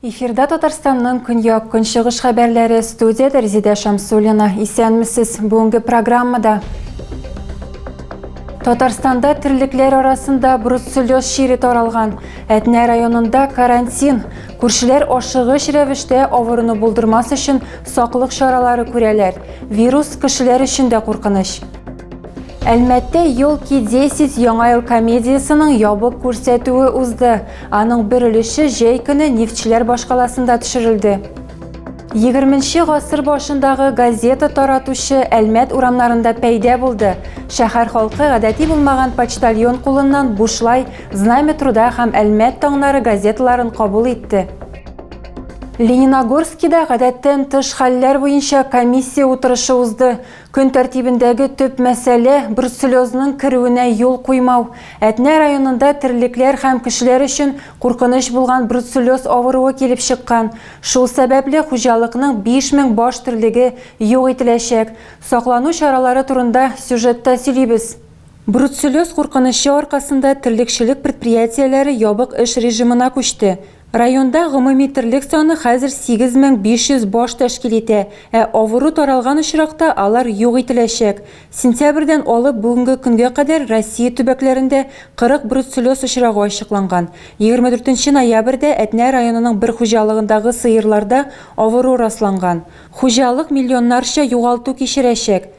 Эфирда Татарстанның көньяк көнчыгыш хәбәрләре студияда Резидә Шамсулина. Исәнмесез. Бүгенге программада Татарстанда терлекләр арасында бруцеллез чире таралган. Әтнә районында карантин. Күршеләр ашыгыч рәвештә авыруны булдырмас өчен саклык чаралары күрәләр. Вирус кешеләр өчен дә куркыныч. Әлмәттә Елки 10 яңа ел комедиясенең ябык күрсәтүе узды. Аның бер өлеше җәй көне нефтьчеләр башкаласында төшерелде. 20 гасыр башындагы газета таратучы Әлмәт урамнарында пәйдә булды. Шәһәр халкы гадәти булмаган почтальон кулыннан бушлай Знамя труда һәм Әлмәт таңнары газеталарын кабул итте. Лениногорскида гадәттән тыш хәлләр буенча комиссия утырышы узды. Көн тәртибендәге төп мәсьәлә, бруцеллезның керүенә юл куймау. Әтнә районында терлекләр һәм кешеләр өчен куркыныч булган бруцеллез авыруы килеп чыккан. Шул сәбәпле хуҗалыкның 5000 баш терлеге юк ителәчәк. Саклану чаралары турында сюжетта сөйлибез. Бруцеллез куркынычы аркасында терлекчелек предприятиеләре ябык эш режимына күчте. Районда гомуми терлек саны хәзер 8500 баш тәшкил итә, ә авыру таралган очракта алар юк ителәчәк. Сентябрьдән алып бүгенге көнгә кадәр Россия төбәкләрендә 40 бруцеллез очрагы ачыкланган. 24 нче ноябрьдә Әтнә районының бер хуҗалыгындагы сыерларда авыру расланган. Хуҗалык миллионнарча югалту кичерәчәк.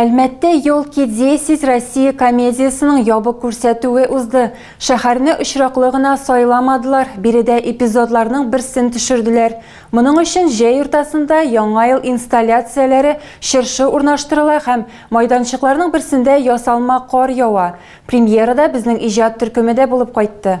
Әлмәттә Ёлки десять Россия комедиясенең ябык күрсәтүе узды. Шәһәрне очраклы гына сайламадылар, биредә эпизодларның берсен төшерделәр. Моның өчен җәй уртасында Яңа ел инсталляцияләре, чыршы урнаштырыла һәм майданчыкларның берсендә ясалма кар ява. Премьерада безнең иҗат төркеме дә булып кайтты.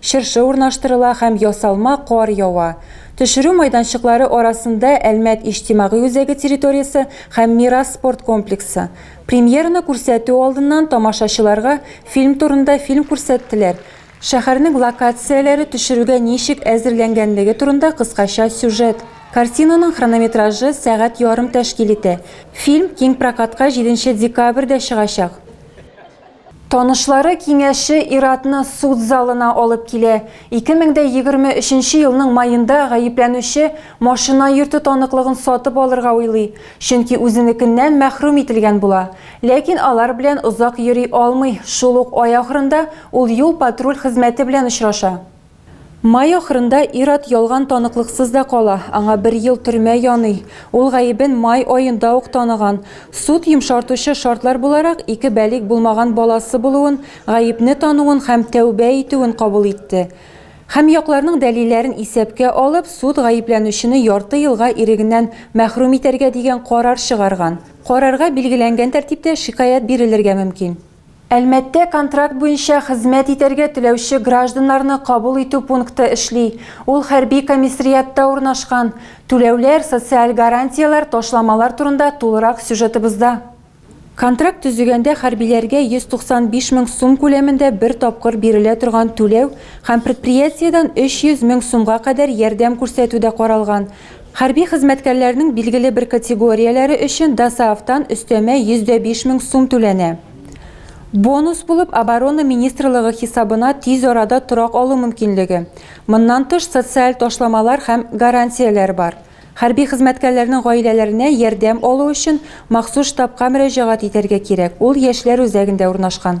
Чыршы урнаштырыла һәм ясалма кар ява. Төшерү майданчыклары арасында Әлмәт иҗтимагый үзәге территориясе һәм Мирас спорт комплексы. Премьераны күрсәтү алдыннан тамашачыларга фильм турында фильм күрсәттеләр, шәһәрнең локацияләре төшерүгә ничек әзерләнгәнлеге турында кыскача сюжет. Картинаның хронометражы сәгать ярым тәшкил итә. Фильм киң прокатка җиденче декабрьдә чыгачак. Танышлары киңәше ир-атны суд залына алып килә. 2023 нче елның маенда гаепләнүче машина йөртү таныклыгын сатып алырга уйлый, чөнки үзенекеннән мәхрүм ителгән була. Ләкин алар белән озак йөри алмый, шул ук ай ахырында ул юл-патруль хезмәте белән очраша. Май ахырында ир-ат ялган таныклыксыз да кала, аңа бер ел төрмә яный. Ул гаебен май аенда ук таныган. Суд йомшартучы шартлар буларак ике бәлигъ булмаган баласы булуын, гаепне тануын һәм тәүбә итүен кабул итте. Һәм якларның дәлилләрен исәпкә алып, суд гаепләнүчене ярты елга ирегеннән мәхрүм итәргә дигән карар чыгарган. Карарга билгеләнгән тәртиптә шикаять бирелергә мөмкин. Әлмәттә контракт буенча хезмәт итәргә теләүче гражданнарны кабул итү пункты эшли. Ул хәрби комиссриатта урнашкан. Түләүләр, социаль гарантияләр, ташламалар турында тулырак сюжетыбызда. Контракт төзегәндә хәрбиләргә 195 мең сум күләмендә бер тапкыр бирелә торган түләү һәм предприятиедән 300 мең сумга кадәр ярдәм күрсәтү дә каралган. Хәрби хезмәткәрләрнең билгеле бер категорияләре өчен ДОСААФтан өстәмә 105 мең сум түләнә. Бонус булып Оборона министрлыгы хисабына тиз арада торак алу мөмкинлеге, моннан тыш социаль ташламалар һәм гарантияләр бар. Хәрби хезмәткәрләрнең гаиләләренә ярдәм алу өчен махсус штабка мөрәҗәгать итәргә кирәк, ул яшьләр үзәгендә урнашкан.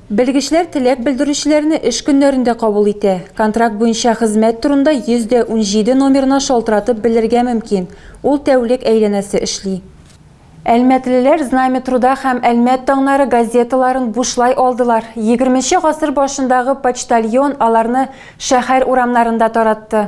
Белгечләр теләк белдерүчеләрне эш көннәрендә кабул итә. Контракт буенча хезмәт турында 100 дә унҗиде номерына шалтыратып белергә мөмкин, ул тәүлек әйләнәсе эшли. Әлмәтлеләр Знамя труда һәм Әлмәт таңнары газеталарын бушлай алдылар. Егерменче гасыр башындагы почтальон аларны шәһәр урамнарында таратты.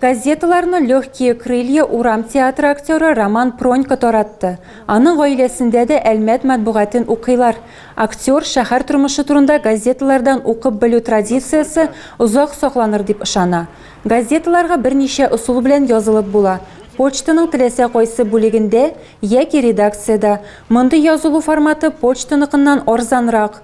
Газеталарны Легкие крылья урам театры актеры Роман Пронько таратты. Аның гаиләсендә дә Әлмәт матбугатен укыйлар. Актер шәһәр тормышы турында газеталардан укып белү традициясе озак сакланыр дип ышана. Газеталарга берничә ысул белән язылып була, почтаның теләсә кайсы бүлегендә яки редакциядә. Мондый язылу форматы почтаныкыннан арзанрак.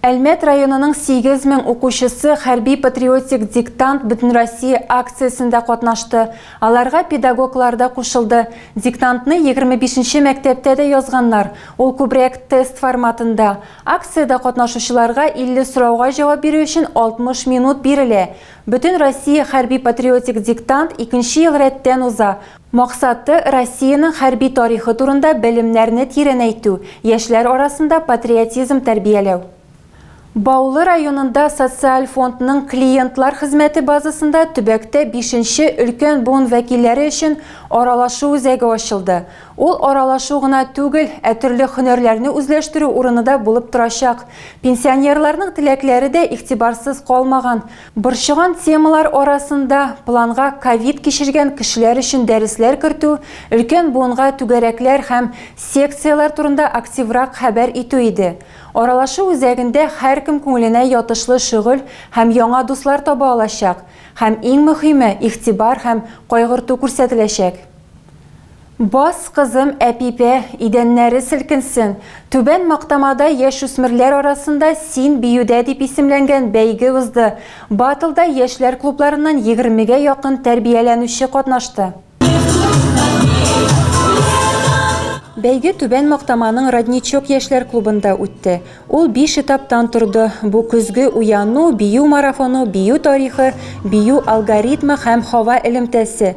Әлмәт районының 8 мең укучысы хәрби-патриотик диктант Бөтенроссия акциясендә катнашты. Аларга педагоглар да кушылды. Диктантны 25 нче мәктәптә дә язганнар, ул күбрәк тест форматында. Акциядә катнашучыларга 50 сорауга җавап бирү өчен 60 минут бирелә. Бөтенроссия хәрби-патриотик диктант икенче ел рәттән уза, Максаты, Россиянең хәрби тарихы турында белемнәрне тирәнәйтү, яшьләр арасында патриотизм тәрбияләү. Баулы районында Социаль фондның клиентлар хезмәте базасында төбәктә бишенче өлкән буын вәкилләре өчен аралашу үзәге ачылды. Ул аралашу гына түгел, ә төрле һөнәрләрне үзләштерү урыны да булып торачак. Пенсионерларның теләкләре дә игътибарсыз калмаган. Борчыган темалар арасында планга ковид кичергән кешеләр өчен дәресләр кертү, өлкән буынга түгәрәкләр һәм секцияләр турында активрак хәбәр итү иде. Аралашу үзәгендә һәркем күңеленә ятышлы шөгыль һәм яңа дуслар таба алачак, һәм иң мөхиме, игътибар һәм кайгырту күрсәтеләчәк. Бас, кызым, әпипә, идәннәре селкенсен! Түбән Мактамада яшүсмерләр арасында Син биюдә дип исемләнгән бәйге узды. Батлда яшьләр клубларыннан егермегә якын тәрбияләнүче катнашты. Бәйге Түбән Мактаманың Родничок яшьләр клубында үтте. Ул биш этаптан торды, бу көзге уяну, бию марафоны, бию тарихы, бию алгоритмы һәм һава элемтәсе.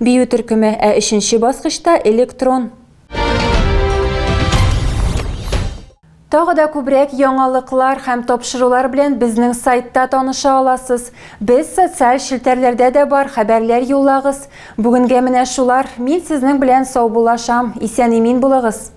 Бию төркеме, ә өченче баскычта, электрон. Тагы да күбрәк яңалыклар һәм тапшырулар белән безнең сайтта таныша аласыз. Без социаль челтәрләрдә дә бар, хәбәрләр юллагыз. Бүгенгә менә шулар. Мин сезнең белән саубуллашам. Исән-имин булыгыз.